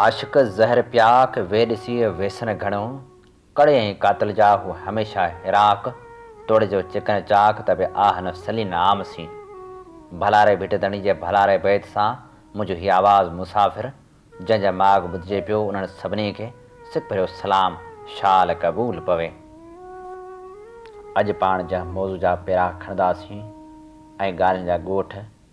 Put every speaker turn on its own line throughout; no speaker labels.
عاشق زهر پيا کي وي ڏسي ويسن گهڻو ڪڙي ۽ قاتل جا هو هميشه هراق توڙي جو چڪن چاڪ ته به آه نفسلين عام سين ڀلاري ڀٽ ڌڻي جي ڀلاري بيت سان منهنجو هي آواز مسافر جنهن جا ماڳ ٻڌجي پيو انهن سڀني کي سک ڀريو سلام شال قبول پوي اڄ پاڻ جنهن موضوع جا پيرا کڻنداسين ۽ ڳالهين جا ڳوٺ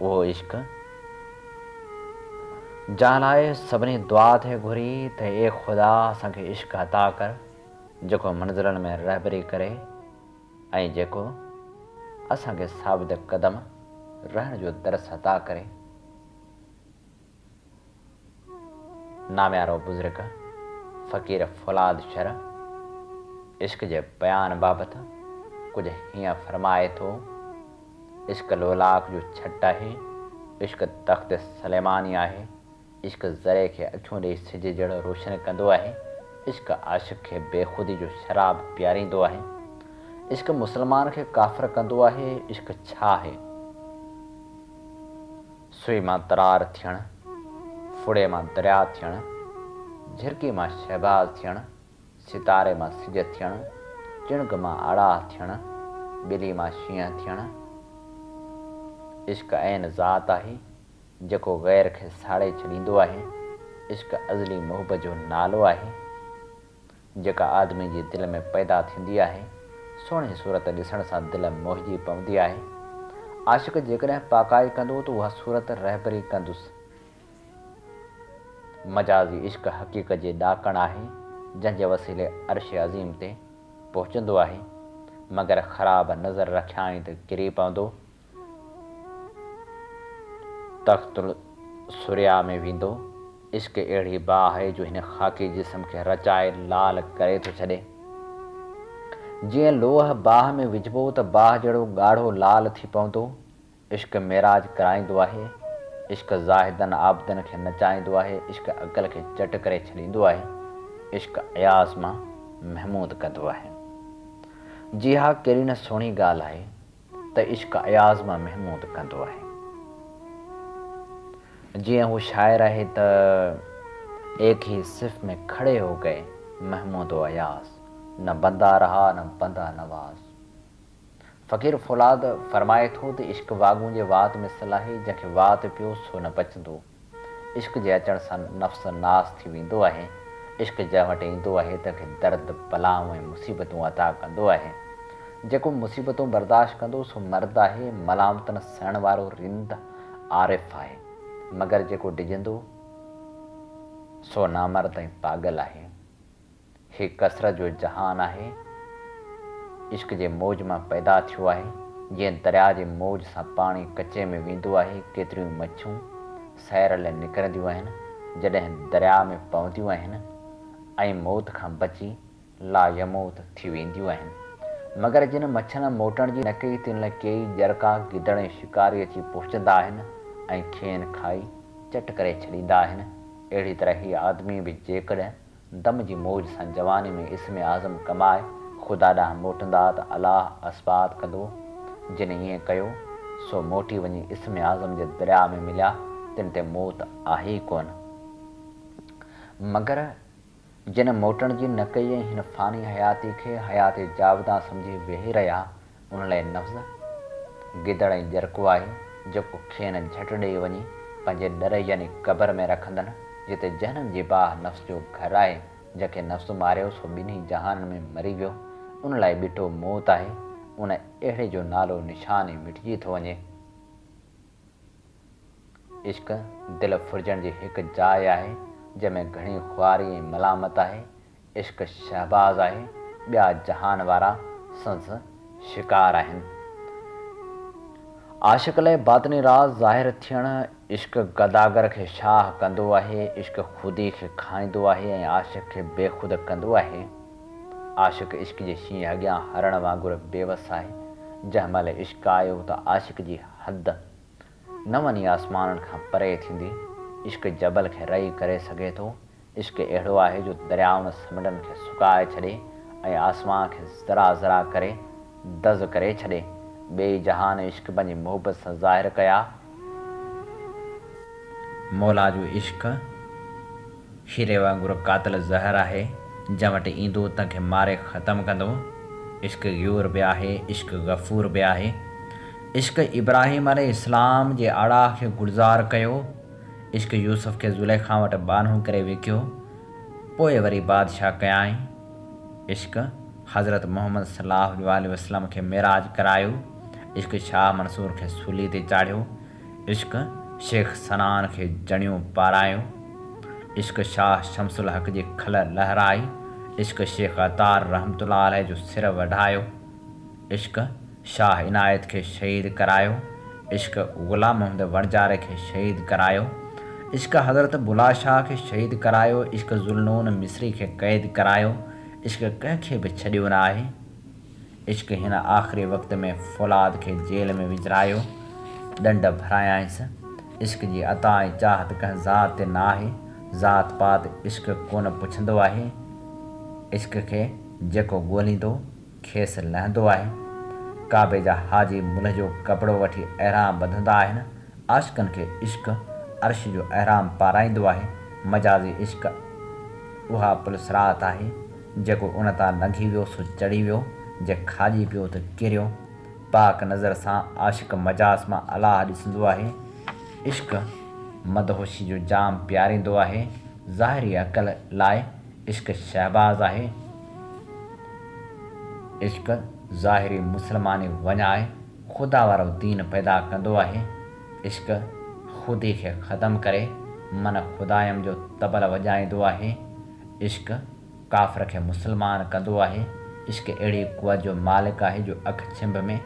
اهو عشق جنهن لاء سڀني دعا ٿي گهري ته اي خدا اسان کي عشق عطا ڪر جيڪو منزلن ۾ رهبري ڪري ۽ جيڪو اسان کي ثابت قدم رهڻ جو درس عطا ڪري. ناميارو بزرگ فقير فولاد شرع عشق جي بيان بابت ڪجهه هيئن فرمائي ٿو، عشق لولاڪ جو ڇٽ آهي، عشق تخت سليماني آهي، عشق ذري کي اکيون ڏئي سج جهڙو روشن ڪندو آهي، عشق عاشق کي بيخودي جو شراب پياريندو آهي، عشق مسلمان کي ڪافر ڪندو آهي، عشق ڇا آهي؟ سوئي مان ترار ٿيڻ، ڦڙي مان درياء ٿيڻ، جهرڪي مان شهباز ٿيڻ، ستاري مان سج ٿيڻ، چڻگ مان اڙاهه ٿيڻ، ٻلي مان شينهن ٿيڻ. عشق عين ذات آهي، جيڪو غير کي ساڙي ڇڏيندو آهي، عشق ازلي محب جو نالو آهي، جيڪا آدمي جي دل ۾ پيدا ٿيندي آهي، سهڻي صورت ڏسڻ سان دل موهجي پوندي آهي. عاشق جيڪڏهن پاڪائي ڪندو ته اها صورت رهبري ڪندس. مجازي عشق حقيقت جي ڏاڪڻ آهي، جنهن جي وسيلي عرش عظيم تي پهچندو آهي، مگر خراب نظر رکيائين ته ڪري پوندو. تخت الثريا ۾ ويندو. عشق اهڙي باهه آهي جو هن خاڪي جسم کي رچائي لال ڪري ٿو ڇڏي. جيئن لوهه باهه ۾ وجهبو ته باهه جهڙو ڳاڙهو لال ٿي پوندو. عشق معراج ڪرائيندو آهي. عشق زاهدن عابدن کي نچائيندو آهي. عشق عقل کي چٽ ڪري ڇڏيندو آهي. عشق اياز مان محمود ڪندو آهي. جي ها ڪهڙي نه سهڻي ڳالهه آهي. ته عشق اياز مان محمود ڪندو آهي. جيئن هو شاعر آهي ته ايڪ هي صف ۾ کڙي هو گئي محمود و اياز، نه بندا رها نه بندا نواز. فقير فولاد فرمائي ٿو ته عشق واڳون جي وات مثل آهي، جنهن کي وات پيو سو نه بچندو. عشق جي اچڻ سان نفس ناس ٿي ويندو آهي. عشق جنهن وٽ ايندو آهي تنهن کي درد، بلائون ۽ مصيبتون عطا ڪندو آهي. جيڪو مصيبتون برداشت ڪندو سو مرد آهي، ملامتن سهڻ وارو رند، عارف، آهي. مگر جيڪو ڊڄندو سو نامرد ۽ پاڳل آهي. هي ڪثرت جو جهان آهي، عشق جي موج مان پيدا ٿيو آهي، جيئن درياء جي موج سان پاڻي ڪچي ۾ ويندو آهي، ڪيتريون مڇيون سير لئه نڪرنديون آهن، جڏهن درياء ۾ پونديون آهن ۽ موت کان بچي لا يموت ٿي وينديون آهن، مگر جن مڇين موٽڻ جي نه ڪئي تن لئه ڪيئي ڄرڪا گدڙ ۽ شڪاري اچي پهچندا آهن ۽ کين کائي چٽ ڪري ڇڏيندا آهن، اهڙي طرح هي آدمي به جيڪڏهن دم جي موج سان جواني ۾ اسم اعظم ڪمائي خدا ڏانهن موٽندا ته الله اثبات ڪندو. جن ائين ڪيو، سو موٽي وڃي اسم اعظم جي درياء ۾ مليا، تن تي موت آهي ئي ڪونه. مگر جن موٽڻ جي نه ڪئي ۽ هن فاني حياتي کي حيات جاودان سمجهي ويهي رهيا، ان لاء نفس، گدڙ ۽ ڄرڪو آهي، جيڪو کين جهٽ ڏيئي وڃي پنهنجي ڏري يعني قبر ۾ رکندن، جتي جهنم جي باهه نفس جو گهر آهي، جنهن کي نفس ماريو سو ٻنهي جهانن ۾ مري ويو، ان لاء ٻيٺو موت آهي، ان اهڙي جو نالو نشان ئي مٽجي ٿو وڃي. عشق دل ڦرجڻ جي هڪ جاء آهي، جنهن ۾ گهڻي خواري ۽ ملامت آهي. عشق شهباز آهي، ٻيا جهان وارا سندس شڪار آهن. عاشق لئه باطني راز ظاهر ٿيڻ، عشق گداگر کي شاهه ڪندو آهي، عشق خودي کي کائيندو آهي ۽ عاشق کي بيخود ڪندو آهي. عاشق عشق جي شينهن اڳيان هرڻ وانگر بيوس آهي، جنهن مهل عشق آيو ته عاشق جي حد نون ئي آسمانن کان پري ٿيندي، عشق جبل کي رئي ڪري سگهي ٿو، عشق اهڙو آهي جو دريائن سمنڊن کي سڪائي ڇڏي ۽ آسمان کي ذرا ذرا ڪري، دز ڪري ڇڏي ٻئي جهان عشق پنهنجي محبت سان ظاهر ڪيا. مولا جو عشق شيري وانگر قاتل زهر آهي جنهن وٽ ايندو تنهن کي ماري ختم ڪندو عشق غيور به آهي عشق غفور به آهي عشق ابراهيم عليه السلام جي آڙاهه کي گلزار ڪيو عشق يوسف کي زليخا وٽ ٻانهون ڪري وڪيو پوء وري بادشاهه ڪيائين. عشق حضرت محمد صلي الله عليه واٰله وسلم کي معراج ڪرايو، عشق شاهه منصور کي سولي تي چاڙهيو، عشق شيخ سنان کي جڻيون پارايو، عشق شاهه شمس الحق جي کل لهرائي، عشق شيخ عطار رحمة الله عليه جو سر وڍايو، عشق. شاهه عنايت کي شهيد ڪرايو، عشق غلام محمد وڻجاري کي شهيد ڪرايو، عشق حضرت بلا شاهه کي شهيد ڪرايو، عشق ذوالنون مصري کي قيد ڪرايو، عشق ڪنهن کي به ڇڏيو نه آهي، عشق هن آخري وقت ۾ فولاد کي جيل ۾ وجهرايو، ڏنڊ ڀرايائينس، عشق جي عطا ۽ چاهت ڪنهن ذات تي نه آهي، ذات پات عشق ڪونه پڇندو آهي، عشق کي جيڪو ڳوليندو. کيس لهندو آهي. ڪعبي جا حاجي ملهه جو ڪپڙو وٺي احرام ٻڌندا آهن. عاشقن کي عشق عرش جو احرام پارائيندو آهي. مجازي عشق اها پل صراط آهي، جيڪو ان تان لنگهي ويو سو چڙهي ويو، جي کاڄي پيو ته ڪريو. پاڪ نظر سان عاشق مجاز مان الاهه ڏسندو آهي. عشق مدهوشي جو جام پياريندو آهي. ظاهري عقل لاء عشق شهباز آهي، عشق ظاهري مسلماني وڃ آهي، خدا وارو دين پيدا ڪندو آهي، عشق خودي کي ختم ڪري من خدايم جو طبل وڄائيندو آهي، عشق ڪافر کي مسلمان ڪندو آهي، عشق اهڙي قوت جو مالڪ آهي جو اک ڇنڀ ۾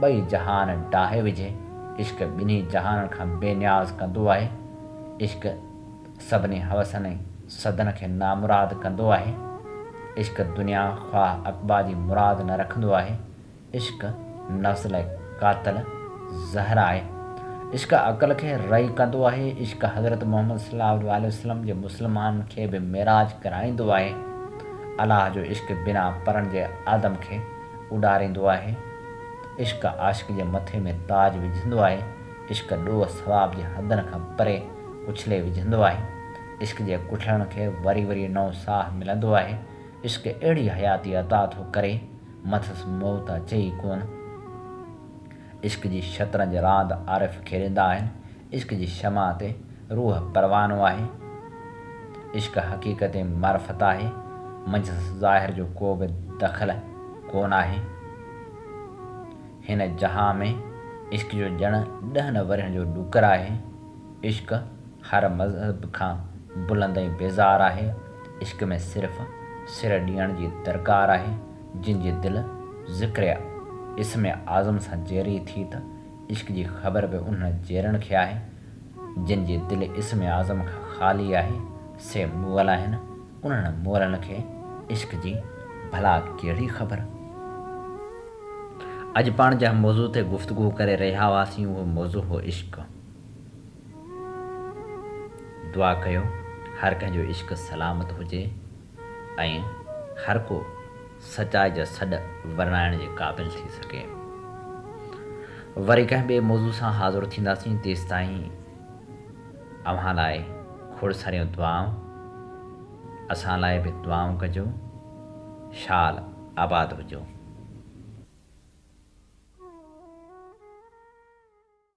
ٻئي جهان ڊاهي وجهي، عشق ٻنهي جهانن کان بي نياز ڪندو آهي، عشق. سڀني حوسن ۽ سڌن کي نامراد ڪندو آهي. عشق دنيا خواهه عقبيٰ جي مراد نه رکندو آهي. عشق نفس لاء قاتل زهر آهي. عشق عقل کي رعي ڪندو آهي. عشق حضرت محمد صلّي اللّٰه عليه وسلّم جي مسلمانن کي به معراج ڪرائيندو آهي. الله جو عشق بنا پرن جي آدم کي اڏاريندو آهي. عشق عاشق جي مٿي ۾ تاج وجهندو آهي. عشق ڏوهه ثواب جي حدن کان پري اڇلي وجهندو آهي. عشق جي ڪٺلڻ کي وري وري نئون ساهه ملندو آهي. عشق اهڙي حياتي عطا ٿو ڪري، مٿس موت اچي ئي ڪون. عشق جي شطرنج راند عارف کيڏيندا آهن. عشق جي شمع تي روح پروانو آهي. عشق حقيقت ۽ معرفت آهي. منجهس ظاهر جو ڪو به دخل ڪون آهي. هن جهان ۾ عشق جو ڄڻ ڏهن ورهين جو ڏوڪر آهي. عشق هر مذهب کان بلند ۽ بيزار آهي. عشق ۾ صرف سر ڏيڻ جي درڪار آهي. جن جي دل ذڪر اسم اعظم سان جيري ٿي ته عشق جي خبر به انهن جيرن کي آهي. جن جي دل اسم اعظم کان خالي آهي سي مغل آهن. انهن مورن کي عشق جي ڀلا ڪهڙي خبر؟ اڄ پاڻ جنهن موضوع تي گفتگو ڪري رهيا هئاسين اهو موضوع هو عشق. دعا ڪيو هر ڪنهن جو عشق سلامت هجي ۽ هر ڪو سچائي جا سڏ ورنائڻ جي قابل ٿي سگهي. وري ڪنهن ٻئي موضوع سان حاضر ٿينداسين تيستائين اوهان لاء کوڙ ساريون دعائون، اسان لاء به دعائون ڪجو، شال آباد هجو.